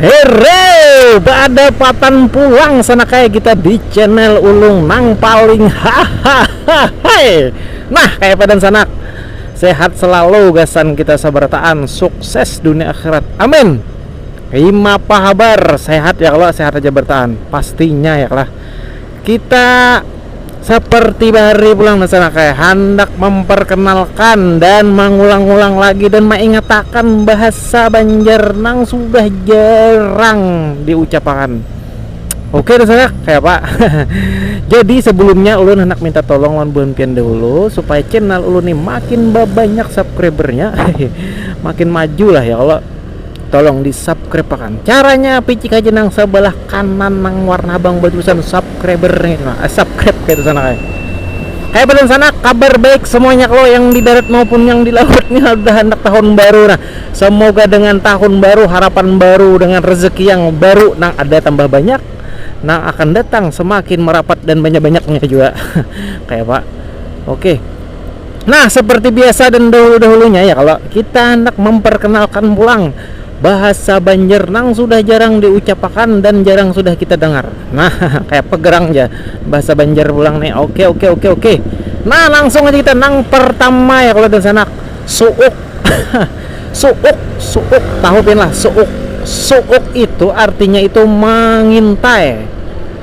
Hero, beadapatan pulang sana kaya kita di channel ulung nang paling hahaha. Nah, kaya padan sanak. Sehat selalu gasan kita sabarataan, sukses dunia akhirat. Amin. Imapa habar? Sehat ya kalo? Sehat aja barataan. Pastinya ya kalo? kita seperti bahari pulang dan sana kayak handak memperkenalkan dan mengulang-ulang lagi dan mengingatakan bahasa Banjar nang sudah jarang diucapakan. Oke dan sana kayak apa? Jadi sebelumnya ulun hendak minta tolong lawan bulan pian dahulu supaya channel ulun ini makin banyak subscribernya, makin maju lah ya Allah. tolong di subscribe akan caranya picik aja nang sebelah kanan nang warna abang bertulisan subscriber nih eh, subscribe kayak sana kayak Hai pesan sana kabar baik semuanya kalau yang di darat maupun yang di lautnya udah hendak tahun baru nah semoga dengan tahun baru harapan baru dengan rezeki yang baru nang ada tambah banyak nang akan datang semakin merapat dan banyak-banyaknya juga kayak pak oke Nah, seperti biasa dan dahulu-dahulunya ya kalau kita hendak memperkenalkan pulang bahasa Banjar nang sudah jarang diucapakan dan jarang sudah kita dengar. Nah, kayak pegerang aja bahasa Banjar pulang nih. Oke, oke, oke, oke. Nah, langsung aja kita nang pertama ya kalau dan sanak suuk. suuk, suuk, tahu pin lah suuk. Suuk itu artinya itu mengintai.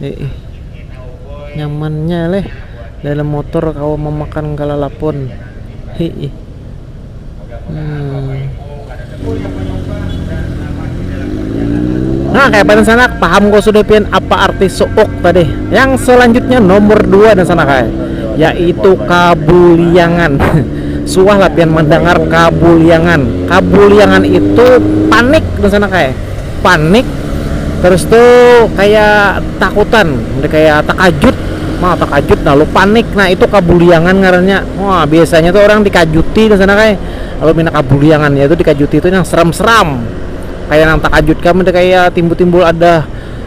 Iih. Nyamannya leh dalam motor kawa mamakan kalalapun. Hiih. Hmm. Nah, kayak apa sanak? Paham kau sudah pian apa arti suuk tadi? Yang selanjutnya nomor dua dan sanak ay, yaitu kabuliangan. Suah lah pian mendengar kabuliangan. Kabuliangan itu panik dan sanak ay. panik terus tu kaya takutan kaya takajut nah takajut lalu panik nah itu kabuliangan ngarannya wah biasanya tu orang dikajuti di sana kaya lalu pina kabuliangan yaitu dikajuti tu yang seram-seram kaya nang takajut kam tu kaya timbul-timbul ada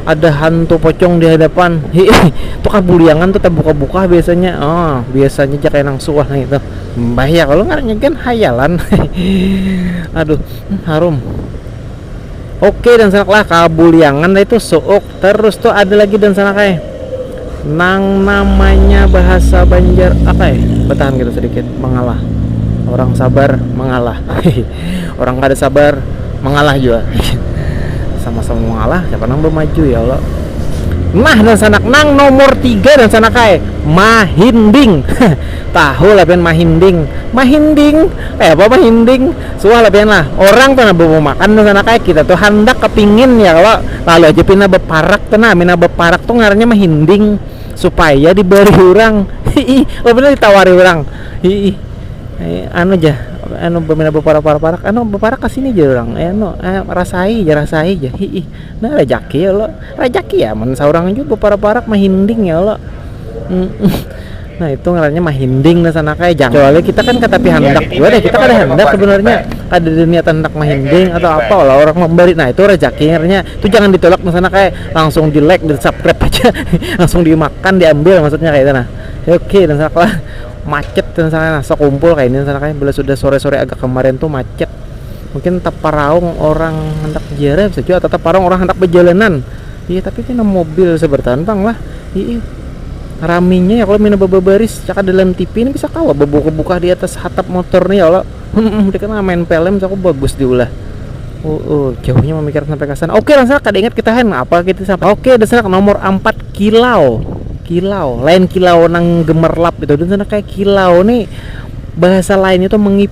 ada hantu pocong di hadapan hiih tu kabuliangan tu tabuka-buka biasanya oh biasanya ja kaya nang suah ngitu mbah ya kalo ngarannya gin hayalan aduh harum. Oke dan sanak lah kabuliangan tadi tuh suuk terus tuh ada lagi dan sanak eh nang namanya bahasa Banjar apa eh bertahan gitu sedikit mengalah orang sabar mengalah orang kada sabar mengalah juga sama-sama mengalah siapa nang bermaju ya Allah nah dan sanak nang nomor tiga dan sanak eh mahinding tahu lah ben mahinding mahinding eh apa mahinding Suah lah pian lah, orang tu nah bamakan tu sana kaya kita tu handak kepingin ya kalo, lalu aja pina beparak tu nah, mina beparak tu ngarannya mahinding supaya diberi urang hihi, oh pina ditawari urang hihi, anu ja anu pina beparak-parak anu beparak kasini jar urang anu rasai ja rasai ja hihi, nah rajaki kalo, rajaki amun saurang jua beparak-parak mahinding ya kalo. Nah itu ngarannya mahinding nah sana kaya jangan kecuali kita kan katapi handak jua deh kita kada handak sebenarnya kada ada niat handak mahinding atau apa lah orang mambari nah itu rejaki ngarannya itu jangan ditulak nah sana kaya langsung di like di subscribe haja langsung dimakan diambil maksudnya kaya itu nah ok nah sana kaya macet nah sana nah sekumpul kaya ini nah sana kaya bila sudah sore-sore agak kemarin tu macet mungkin taparaung orang handak ziarah bisa jua atau taparaung orang handak bajalanan iya tapi kena mobil seberatan pang lah iih. raminya ya kalau mina babaris caka dalam TV ini bisa kawa babuka-buka di atas hatap motor nih ya Allah mereka nggak main film aku bagus diulah uh, uh, jauhnya memikir sampai ke sana oke langsung kada ingat kita hen apa kita gitu, sampai oke dasar nomor 4 kilau kilau lain kilau nang gemerlap gitu dan sana kayak kilau nih bahasa lainnya tuh mengip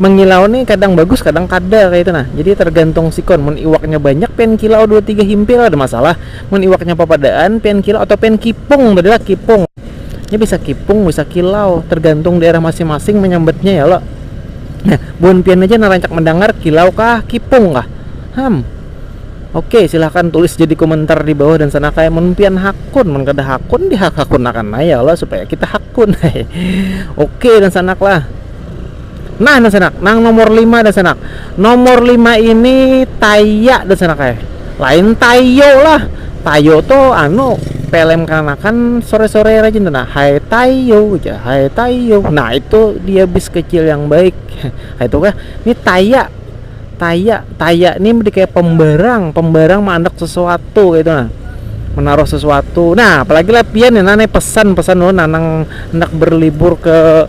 mengilau nih kadang bagus kadang kada kaya itu nah jadi tergantung sikon mun iwaknya banyak pian kilau dua tiga himpil ada masalah mun iwaknya papadaan pian kilau atau pian kipung tadi lah kipung nya bisa kipung bisa kilau tergantung daerah masing-masing menyambatnya ya lo nah buhan pian aja narancak mendangar kilau kah kipung kah ham oke silahkan tulis jadi komentar di bawah dan sana kayak mun pian hakun mun kada hakun dihak hakunakan akan ya lo supaya kita hakun oke dan sanak lah Nah dasanak, nang nomor lima dasanak, nomor lima ini taya dasanak eh, lain tayo lah, tayo tu anu pelem kanakan sore-sore rajin tu nah hai tayo ja hai tayo nah itu dia bis kecil yang baik itu kah ini taya taya taya ini berarti kayak pembarang pembarang mandak sesuatu gitu nah menaruh sesuatu nah apalagi lah pian ya nane pesan pesan lo nanang hendak berlibur ke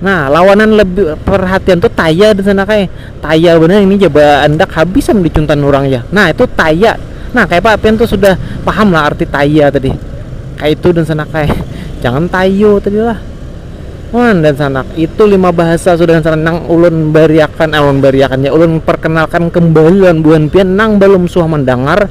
Nah, lawanan lebih perhatian tuh taya di sana kai. Taya benar ini jaba andak habis am dicuntan urang ja. Nah, itu taya. Nah, kaya apa pian tuh sudah paham lah arti taya tadi. Kayak itu dan sana kai. Jangan tayo tadi lah. Wan dan sanak itu lima bahasa sudah dan sanak nang ulun bariakan eh, ulun bariakan ya ulun perkenalkan kembali lawan buhan pian nang belum suah mendengar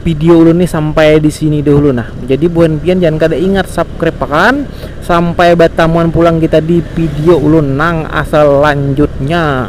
Video ulun nih sampai di sini dahulu nah. Jadi buhan pian jangan kada ingat subscribe akan. Sampai batamuan pulang kita di video ulun nang asal lanjutnya.